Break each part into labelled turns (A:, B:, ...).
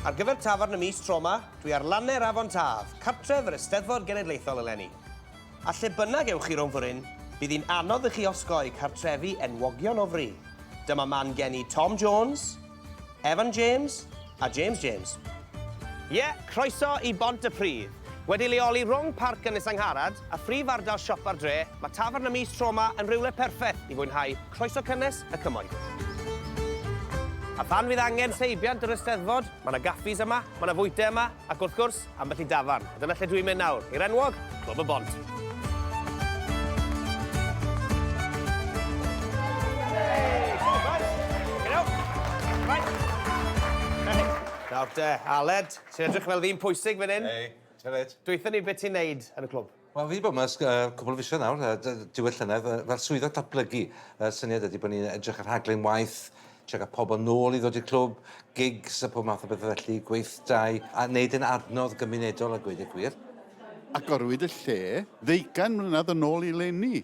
A: Ar gyfer tafarn y mis tro 'ma, dwi ar lanne'r Afon Taf, cartref yr Eisteddfod Genedlaethol eleni. A lle bynnag ewch chi rownd foryn, bydd hi'n anodd i chi osgoi cartrefi enwogion o fri. Dyma man geni Tom Jones, Evan James a James James. Ie, croeso i Bont y Pridd. Wedi leoli rhwng Parc Ynys Angharad a phrif ardal siopa'r dre, mae Tafern y Mis tro 'ma yn rywle perffeth i fwynhau croeso cynnes y cymoedd. A phan fydd angen seibiant yr Eisteddfod, mae 'na gaffis yma, mae 'na fwyte yma, ac wrth gwrs, Ambell i dafarn, a dyna lle dwi'n mynd nawr, i'r enwog Clwb y Bont. Nawr te, Aled, ti'n edrych fel ddyn pwysig fan hyn. Hei, tybed. Dweutha ni beth ti'n neud yn y clwb. Wel fi 'di bod 'ma ers yy cwpwl o fisoedd nawr yy dy- diwedd llynedd yy fel swyddog datblygu y syniad ydi bo' ni'n edrych ar rhaglen waith trio ga'l pobol nôl i ddod i'r clwb gigs a pob math o bethe felly gweithdai a neud e'n adnodd gymunedol a gweud y gwir. Agorwyd y lle ddeugain mlynedd yn ôl i leni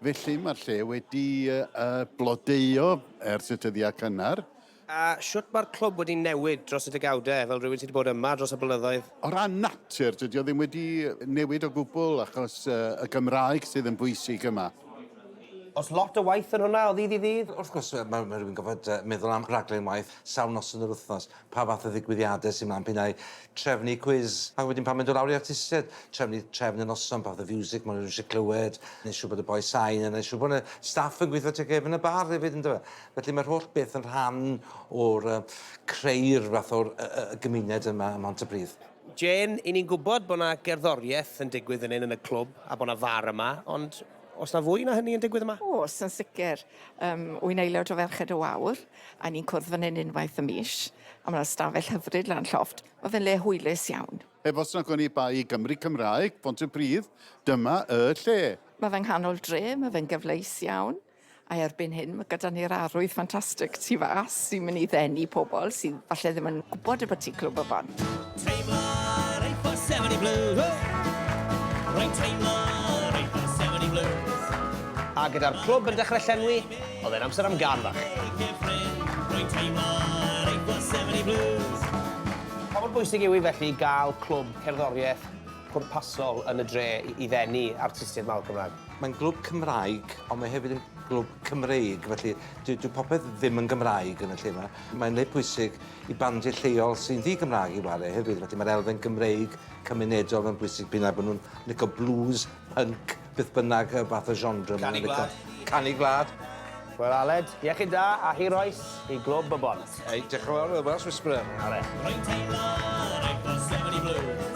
A: felly ma'r lle wedi yy yy blodeuo ers y tyddie cynnar. A shwt mae'r clwb wedi newid dros y degawdau, fel rhywun sydd wedi bod yma dros y blynyddoedd? O ran natur, dydy o ddim wedi newid o gwbl achos y Gymraeg sydd yn bwysig yma. Oes lot o waith yn hwnna o ddydd i ddydd? Wrth gwrs, mae rhywun yn gorfod meddwl am raglen waith sawl noson yr wythnos, pa fath o ddigwyddiadau sy'n mlaen, p'un ai trefnu cwis, ac wedyn pan mae'n dod lawr i artistiaid, trefnu trefn y noson, pa fath o fiwsig mae rhywun eisiau clywed, wneud siŵr bod y boi sain yna, wneud siŵr bod y staff yn gweithio teg gefn y bar hefyd, yn dyfe? Felly mae'r holl beth yn rhan o'r yy creu'r fath o'r y y y gymuned yma ym Mhontypridd. Jane, I ni'n gwybod bod 'na gerddoriaeth yn digwydd fan hyn yn y clwb a bod 'na far yma, ond oes 'na fwy na hynny yn digwydd yma? Oes, yn sicr. Yym, wy'n aelod o Ferched y Wawr a ni'n cwrdd fan hyn unwaith y mis, a ma' 'na stafell hyfryd lan llofft. Ma' fe'n le hwylus iawn. Heb os nag oni bai i Gymry Cymraeg, Pontypridd, dyma y lle! Ma' fe yng nghanol dre, ma' fe'n gyfleus iawn. A erbyn hyn, mae gyda ni'r arwydd ffantastig tu fas sy'n mynd i ddenu pobl sydd falle ddim yn gwybod y bod ti Clwb y Bont. Teimlo'r ei for 70 blue. Rwy'n teimlo'r ei for 70 blue. A gyda'r clwb yn dechrau llenwi, oedd e'n amser am gân fach. Rwy'n teimlo'r ei for 70 blues. Pa mor bwysig yw hi felly gael clwb cerddoriaeth pwrpasol yn y dre i ddenu artistiaid mawr Cymraeg? Mae'n glwb Cymraeg, ond mae hefyd yn glwb Cymreig, felly dyw dyw popeth ddim yn Gymraeg yn y lle 'ma. Mae'n le pwysig i bandiau lleol sy'n ddi-Gymraeg i ware hefyd, felly mae'r elfen Gymreig cymunedol yn bwysig p'un a bo' nhw'n lico blues, punk, beth bynnag yy fath o genre ma' nhw'n lico. Canu gwlad. Canu gwlad. Wel Aled, iechyd da a hir oes i Glwb y Bont. Ei, diolch yn fawr, y Welsh Whisperer. Are. Rwy'n teimlo yr eglos sefyll i blwch.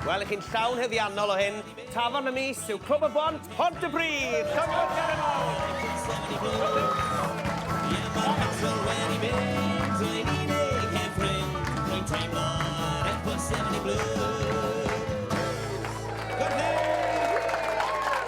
A: Wel, i chi'n llawn heddiannol o hyn, tafarn y mis yw Clwb y Bont, Pontypridd! Cyfnod gair yn fawr!